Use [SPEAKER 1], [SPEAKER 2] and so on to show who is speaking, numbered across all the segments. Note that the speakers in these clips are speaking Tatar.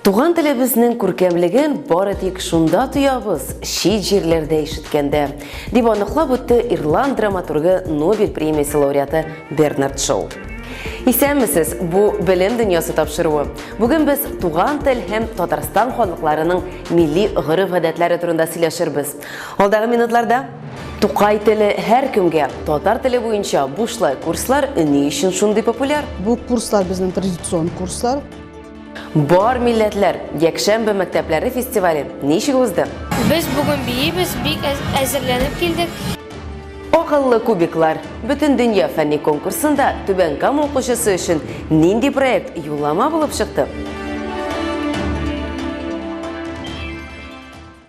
[SPEAKER 1] Туган телебезнең күркәмлеген бары тик шунда тоябыз, чит җирләрдә ишеткәндә, дип аныклап үтте ирланд драматургы Нобель премиясе лауреаты Бернард Шоу. Исәнмесез, бу белем дөньясы тапшыруы. Бүген без туган тел һәм Татарстан халыкларының милли гореф-гадәтләре турында сөйләшербез. Алдагы минутларда Тукай теле һәр кемгә, татар теле буенча бушлай курслар ни өчен шундый популяр? Бу курслар безнең
[SPEAKER 2] традицион курслар. Бар
[SPEAKER 1] милләтләр якшәмбе мәктәпләре фестивале ничек узды? Без бүген
[SPEAKER 3] биибез, бик әзерләнеп килдек. Акыллы
[SPEAKER 1] кубиклар бөтен дөнья фәнни конкурсында Түбән Кама укучысы өчен нинди проект юллама булып чыкты?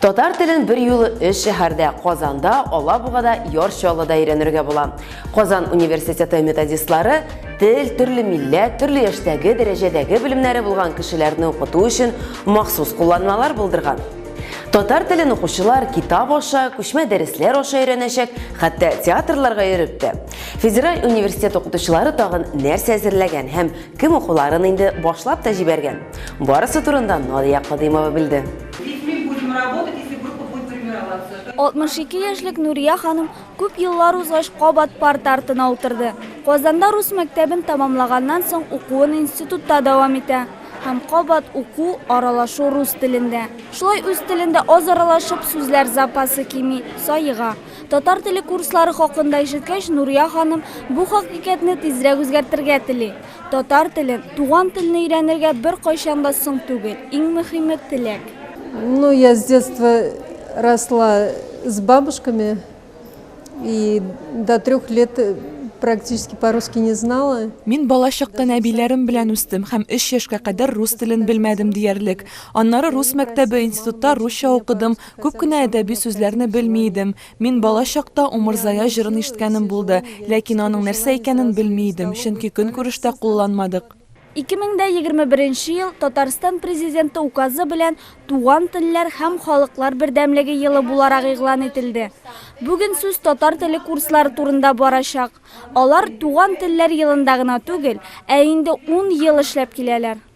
[SPEAKER 1] Татар телен берьюлы өч шәһәрдә, Казанда, Алабугада, Яр Чаллыда өйрәнергә була. Казан университеты методистлары тел, төрле милләт, төрле яшьтәге, дәрәҗәдәге белемнәре булган кешеләрне укыту өчен махсус кулланмалар булдырган. Татар телен укучылар китап аша, күчмә дәресләр аша өйрәнәчәк, хәтта театрларга йөреп тә. Федераль университет укытучылары тагын нәрсә әзерләгән һәм кем укуларын инде башлап та җибәргән? Барысы турында Надия Кадыймова белде. Ведь
[SPEAKER 4] мы будем работать, если группа будет формироваться. 62 яшьлек Нурия ханым күп еллар узгач кабат парта артына утырды. Казанда рус мәктәбен тәмамлаганнан соң укуын институтта дәвам итә һәм кабат уку, аралашу рус телендә. Шулай үз телендә аз аралашып, сүзләр запасы кими, саега. Татар теле курслары хакында ишеткәч, Нурия ханым бу хакыйкатьне тизрәк үзгәртергә тели. Татар телен, туган телне өйрәнергә беркайчан да соң түгел. Иң мөхиме, теләк. Ну я
[SPEAKER 2] с детства росла с бабушками и до трех лет практически по русски не знала. Мин балачактан
[SPEAKER 5] әбиләрем белән үстем һәм өч яшькә кадәр рус телен белмәдем диярлек. Аннары рус мәктәбе, институтта русча укыдым, күп кенә әдәби сүзләрне белми идем. Мин бала чакта Умырзая җырын ишеткәнем булды, ләкин аның нәрсә икәнен белми идем, чөнки көнкүрештә кулланмадык. 2021
[SPEAKER 4] ел Татарстан Президенты Указы белән Туган телләр һәм халыклар бердәмлеге елы буларак игълан ителде. Бүген сүз татар теле курслары турында барачак. Алар Туган телләр елында гына түгел, ә инде ун ел эшләп киләләр.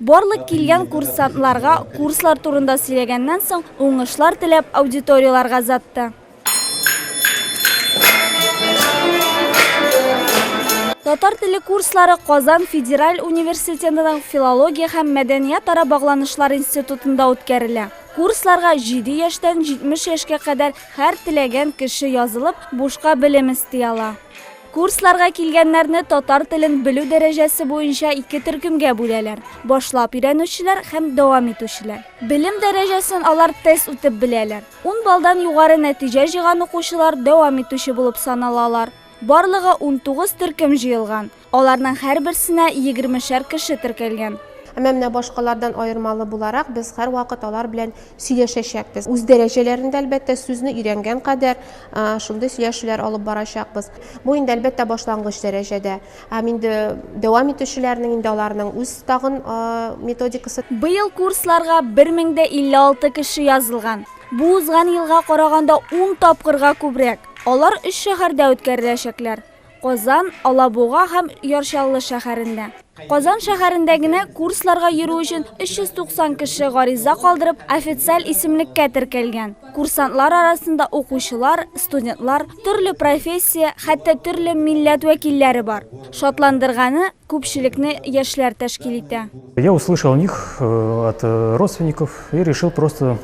[SPEAKER 4] Барлык килгән курсантларга курслар турында сөйләгәннән соң, уңышлар теләп, аудиторияләргә озатты. Татар теле курслары Казан федераль университетының филология һәм мәдәниятара багланышлар институтында үткәрелә. Курсларга 7 яшьтән 70 яшькә кадәр һәр теләгән кеше язылып, бушка белем эсти ала. Курсларга килгәннәрне татар телен белү дәрәҗәсе буенча ике төркемгә бүләләр, башлап өйрәнүчеләр һәм дәвам итүчеләр. Белем дәрәҗәсен алар тест үтеп беләләр. Ун баллдан югары нәтиҗә җыйган укучылар дәвам итүче булып саналалар. Барлыгы унтугыз төркем җыелган, аларның һәрберсенә егермешәр кеше теркәлгән. Әмма менә
[SPEAKER 6] башкалардан аермалы буларак, без һәрвакыт алар белән сөйләшәчәкбез. Үз дәрәҗәләрендә, әлбәттә, сүзне өйрәнгән кадәр шундый сөйләшүләр алып барачакбыз. Бу инде, әлбәттә, башлангыч дәрәҗәдә. Һәм инде дәвам итүчеләрнең инде аларның үз тагын методикасы. Быел курсларга
[SPEAKER 4] 1056 кеше язылган. Бу узган елга караганда ун тапкырга күбрәк. Алар өч шәһәрдә үткәреләчәкләр. Казан, Алабуга һәм Яр Чаллы шәһәрендә. Казан шәһәрендә генә курсларга йөрү өчен 390 кеше гариза калдырып, официаль исемлеккә теркәлгән. Курсантлар арасында укучылар, студентлар, төрле профессия, хәтта төрле милләт вәкилләре бар. Шатландырганы, күпчелекне яшьләр тәшкил итә. Я услышал о них
[SPEAKER 7] от родственников и решил просто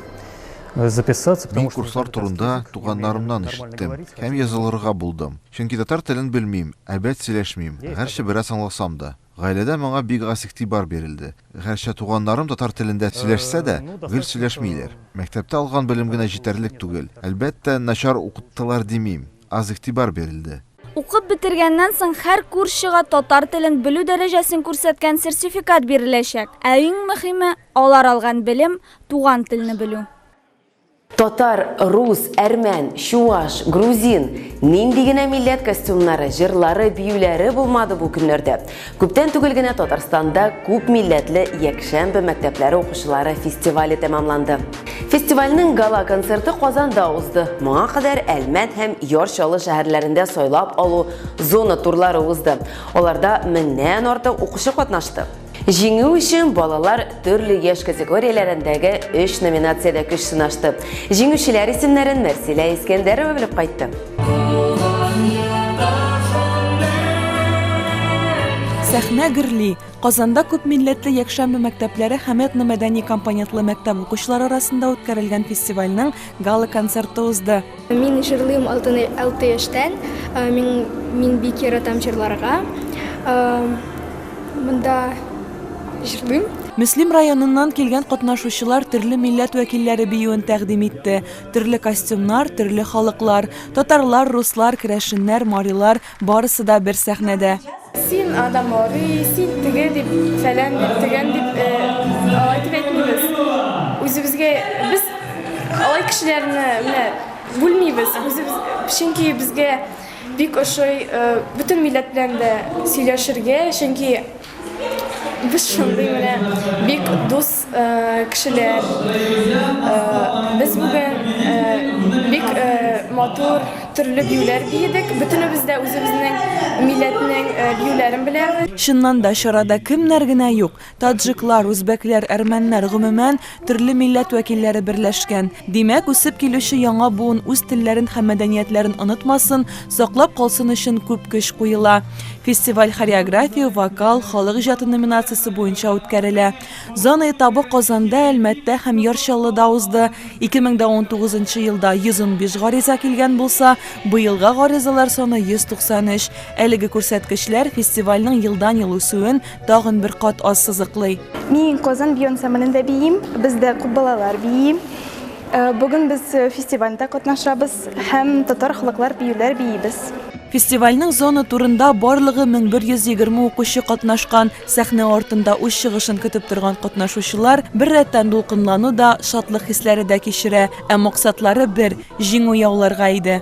[SPEAKER 7] записаться, Мин курслар
[SPEAKER 8] турында туганнарымнан ишеттем һәм язылырга булдым. Чөнки татар телен белмим, әбәт сөйләшмим, гәрчә бераз аңласам да. Гаиләдә моңа бик аз игътибар бирелде. Гәрчә туганнарым татар телендә сөйләшсә дә, гел сөйләшмиләр. Мәктәптә алган белем генә җитәрлек түгел. Әлбәттә, начар укыттылар димим. аз игътибар бирелде. Укып бетергәннән
[SPEAKER 4] соң һәр курсчыга татар телен белү дәрәҗәсен күрсәткән сертификат биреләчәк. Ә иң мөһиме, алар алган белем, туган телне белү. Татар,
[SPEAKER 1] рус, әрмән, чуаш, грузин, нинди генә милләт костюмнары, җырлары, биюләре булмады бу көннәрдә. Күптән түгел генә Татарстанда күп милләтле якшәмбе мәктәпләре укучылары фестивале тәмамланды. Фестивальнең гала-концерты Казанда узды. Моңа кадәр Әлмәт һәм Яр Чаллы шәһәрләрендә сайлап алу зона турлары узды. Аларда меңнән артык укучы катнашты. Җиңү өчен балалар төрле яшь категорияләрендәге өч номинациядә көч сынашты. Җиңүчеләр исемнәрен Мәрсилә Искәндәрова белеп кайтты.
[SPEAKER 5] Сәхнә гөрли! Казанда күпмилләтле якшәмбе мәктәпләре һәм этно-мәдәни компонентлы мәктәп укучылары арасында үткәрелгән фестивальнең гала-концерты узды. Мин җырлыйм
[SPEAKER 3] алты яшьтән. Мин бик яратам җырларга. Монда җырлыйм. Мөслим
[SPEAKER 5] районыннан килгән катнашучылар төрле милләт вәкилләре биюен тәкъдим итте. Төрле костюмнар, төрле халыклар. Татарлар, руслар, керәшеннәр, марилар, барысы да бер сәхнәдә. Син анда
[SPEAKER 3] мари, син теге дип, фәлән дип, төгән дип, алай дип әйтмибез. Үзебезгә, без алай кешеләрне менә бүлмибез. Үзебез, чөнки безгә бик ошый бөтен милләт белән дә сөйләшергә, чөнки. Без шундый менә бик дус кешеләр. Без бүген бик матур төрле биюләр биедек. Бөтенебез дә үзебезнең милләтнең биюләрен беләбез. Чыннан да, чарада
[SPEAKER 5] кемнәр генә юк! Таджиклар, үзбәкләр, әрмәннәр, гомумән, Төрле милләт вәкилләре берләшкән. Димәк, үсеп килүче яңа буын үз телләрен һәм мәдәниятләрен онытмасын, саклап калсын өчен күп көч куела. Фестиваль хореография, вокал, халык иҗаты номинациясе буенча үткәрелә. Зона этабы Казанда, Әлмәттә һәм Яр Чаллыда узды. 2019 елда 115 гариза килгән булса, быелга гаризалар саны 193. Әлеге күрсәткечләр фестивальнең елдан-ел үсүен, Тагын бер кат аз сызыклый. Мин Казан бию
[SPEAKER 9] ансамблендә биим. Бездә күп балалар бии. Э, Бүген без э, фестивальдә катнашабыз һәм татар халыклар биюләр биибез. Фестивальнең
[SPEAKER 5] зона турында барлыгы 1120 укучы катнашкан. Сәхнә артында үз чыгышын көтеп торган катнашучылар бер рәттән дулкынлану да, шатлык хисләре дә кичерә. Ә максатлары бер, җиңү яуларга иде.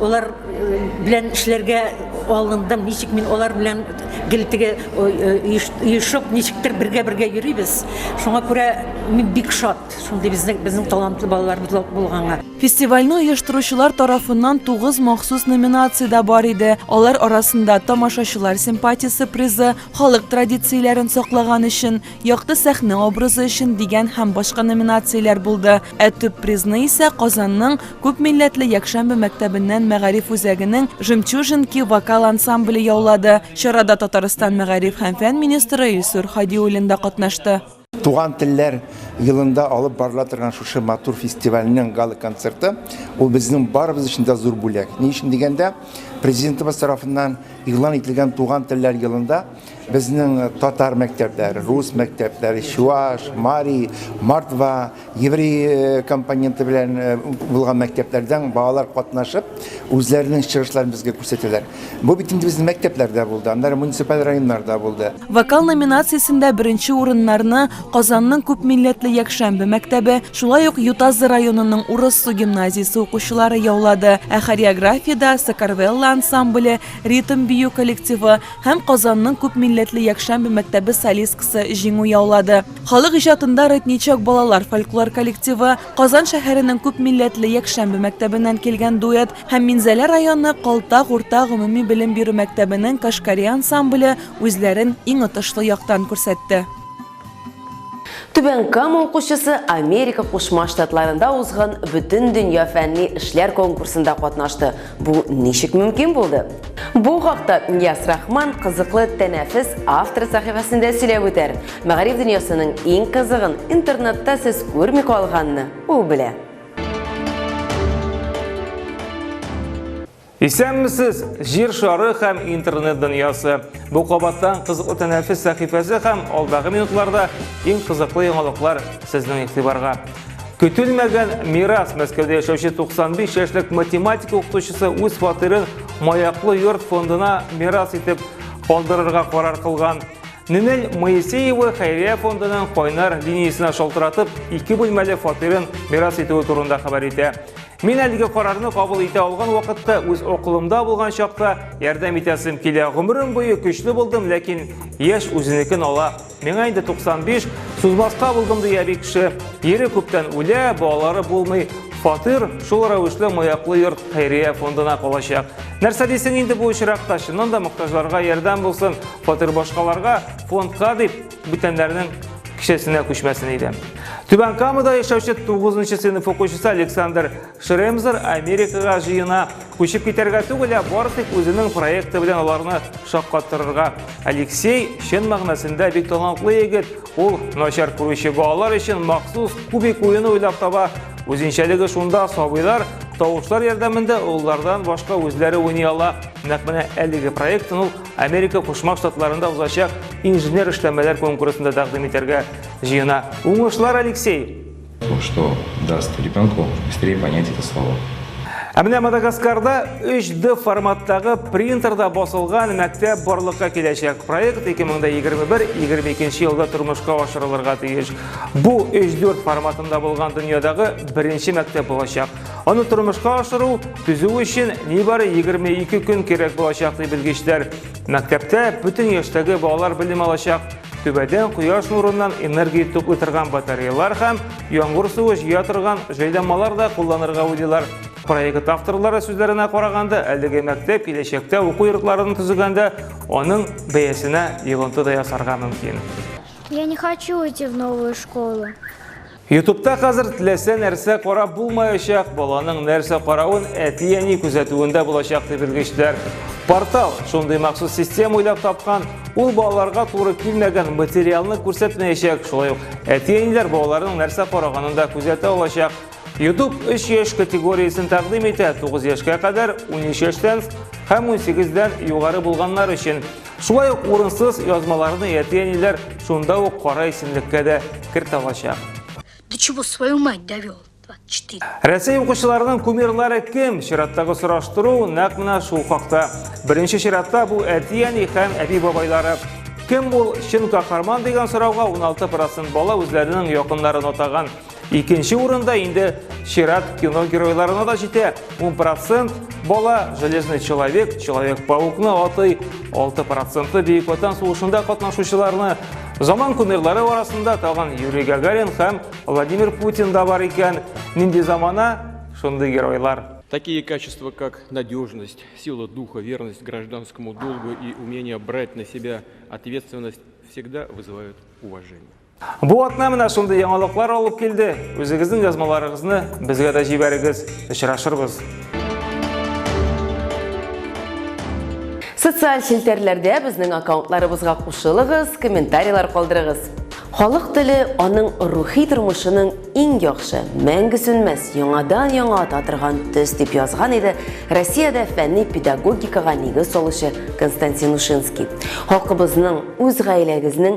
[SPEAKER 10] Олар белән эшләргә алындым, ничек мин олар белән гелтеге өешеп, ничектер бергә-бергә йөрибез. Шуңа күрә мин бик шат, шундый безнең безнең талантлы балаларыбыз булганга. Фестивальне
[SPEAKER 5] оештыручылар тарафыннан тугыз махсус номинация дә бар иде. Алар арасында тамашачылар симпатиясе призы, халык традицияләрен саклаган өчен, Якты сәхнә образы өчен дигән һәм башка номинацияләр булды. Ә төп призны исә Казанның күпмилләтле якшәмбе мәктәбеннән мәгариф үзәгенең Жемчужинки вокал ансамбле яулады. Чарада Татарстан мәгариф һәм фән министры Илсур Һадиуллин да катнашты. Туган телләр
[SPEAKER 11] елында алып барыла торган шушы матур фестивальнең гала-концерты, ул безнең барыбыз өчен дә зур бүләк. Ни өчен дигәндә, Президентыбыз тарафыннан игълан ителгән Туган телләр елында, Безнең татар мәктәпләре, рус мәктәпләре, чуаш, мари, мордва, еврей э, компоненты белән э, булган мәктәпләрдән балалар катнашып, үзләренең чыгышларын безгә күрсәтәләр. Бу бит инде безнең мәктәпләрдә булды, аннары муниципаль районнарда
[SPEAKER 5] булды.
[SPEAKER 11] Вокал
[SPEAKER 5] номинациясендә беренче урыннарны Казанның күпмилләтле Якшәмбе мәктәбе, шулай ук Ютазы районының Урыссу гимназиясе укучылары яулады. Ә хореографиядә Сакарвелла ансамбле, ритм бию коллективы, һәм Казанның күпмилләтле якшәмбе мәктәбе солисткасы җиңү яулады. Халык иҗатында Рытничок балалар фольклор коллективы, Казан шәһәренең күпмилләтле якшәмбе мәктәбеннән килгән дуэт һәм Минзәлә районы Калтак урта гомуми белем бирү мәктәбенең Кашкари ансамбле үзләрен иң отышлы яктан күрсәтте. Түбән
[SPEAKER 1] Кама укучысы Америка Кушма Штатларында узган бөтен дөнья фәнни эшләр конкурсында катнашты. Бу ничек мөмкин булды? Бу хакта Ильяс Рахман кызыклы тәнәфес автор сәхифәсендә сөйләп үтәр. Мәгариф дөньясының иң кызыгын интернетта сез күрми калганны ул белә.
[SPEAKER 12] Исәнмесез, җир шары һәм интернет дөньясы. Бу кабаттан кызыклы тәнәфес сәхифәсе һәм алдагы минутларда иң кызыклы яңалыклар сезнең игътибарга. Көтелмәгән мирас Мәскәүдә яшәүче 95 яшьлек математика укытучысы үз фатирын Маяклы йорт фондына мирас итеп калдырырга карар кылган. Нинель Моисеева хәйрия фондының кайнар линиясенә шалтыратып, ике бүлмәле фатирын мирас итүе турында хәбәр итә. Мин әлеге карарны кабул итә алган вакытта үз акылымда булган чакта ярдәм итәсем килә. Гомерем буе көчле булдым, ләкин яшь үзенекен ала. Миңа инде 95, сузмаска булдым, ди әби кеше. Ире күптән үлә, балалары булмый. Фатир шул рәвешле маяклы йорт хәйрия фондына калачак. Нәрсә дисең инде бу очракта? Чыннан да мохтаҗларга ярдәм булсын. Фатир башкаларга, фондка дип бүтәннәрнең кешесенә күчмәсен иде. Түбән Камада яшәүче 9 нчы сыйныф укучысы Александр Шремзер Америкага җыена. Күчеп китәргә түгел, ә бары тик үзенең проекты белән аларны шаккатырырга. Алексей чын мәгънәсендә бик талантлы егет. Ул начар күрүче балалар өчен махсус кубик уены уйлап таба. Үзенчәлеге шунда сабыйлар тавышлар ярдәмендә олылардан башка үзләре уйный ала. Нәкъ менә әлеге проектын ул Америка Кушма Штатларында узачак инженер эшләмәләр конкурсында тәкъдим итәргә җыена. Уңышлар, Алексей! То, что
[SPEAKER 13] даст ребенку быстрее понять это слово. Ә менә
[SPEAKER 12] Мадагаскарда 3D форматтагы принтерда басылган мәктәп барлыкка киләчәк. Проект 2021-2022 елда тормышка ашырылырга тиеш. Бу 3D форматында булган дөньядагы беренче мәктәп булачак. Аны тормышка ашыру, төзү өчен нибары 22 көн кирәк булачак ди белгечләр. Мәктәптә бөтен яшьтәге балалар белем алачак. Түбәдән кояш нурыннан энергия туплый торган батареялар һәм яңгыр суы җыя торган җайланмалар да кулланырга уйлыйлар. Проект авторлары сүзләренә караганда, әлеге мәктәп киләчәктә уку йортларын төзегәндә аның бәясенә йогынты да ясарга мөмкин. Я не
[SPEAKER 14] хочу идти в новую школу. Ютубта
[SPEAKER 12] хәзер теләсә нәрсә карап булмаячак, баланың нәрсә каравын әти-әни күзәтүендә булачак дип белгечләр. Портал шундый махсус система уйлап тапкан, ул балаларга туры килмәгән материалны күрсәтмәячәк, шулай ук әти-әниләр балаларның нәрсә караганын да күзәтә алачак. YouTube 3 яшь категориясен тәкъдим итә, 9 яшькә кадәр, 13 яшьтән һәм 18 дән югары булганнар өчен. Шулай ук урынсыз язмаларны әти-әниләр шунда ук кара исемлеккә дә керт алачак. До чего
[SPEAKER 14] свою мать довел? 24. Рәсәй укучыларының
[SPEAKER 12] кумирлары кем? Чираттагы сораштыру нәкъ менә шул хакта. Беренче чиратта бу әти-әни һәм әби-бабайлары. Кем ул чын каһарман дигән сорауга 16 процент бала үзләренең якыннарын атаган. Икенче урында инде чират кино геройларына да җитә. 10 процент бала Железный человек, Человек-паукны атый, 6 проценты Бөек Ватан сугышында катнашучыларны. Заман кумирлары арасында тагын Юрий Гагарин һәм Владимир Путин да бар икән. Нинди замана, шундый геройлар. Такие качества,
[SPEAKER 15] как надежность, сила духа, верность гражданскому долгу и умение брать на себя ответственность, всегда вызывают уважение. Бу атна
[SPEAKER 12] менә шундый яңалыклар алып килде. Үзегезнең язмаларыгызны безгә дә җибәрегез, очрашырбыз.
[SPEAKER 1] Социаль челтәрләрдә безнең аккаунтларыбызга кушылыгыз, комментарийлар калдырыгыз. Халык теле аның рухи тормышының иң яхшы, мәңге сүнмәс, яңадан-яңа ата торган төс, дип язган иде Россиядә фәнни педагогикага нигез салучы Константин Ушинский. Халкыбызның, үз гаиләгезнең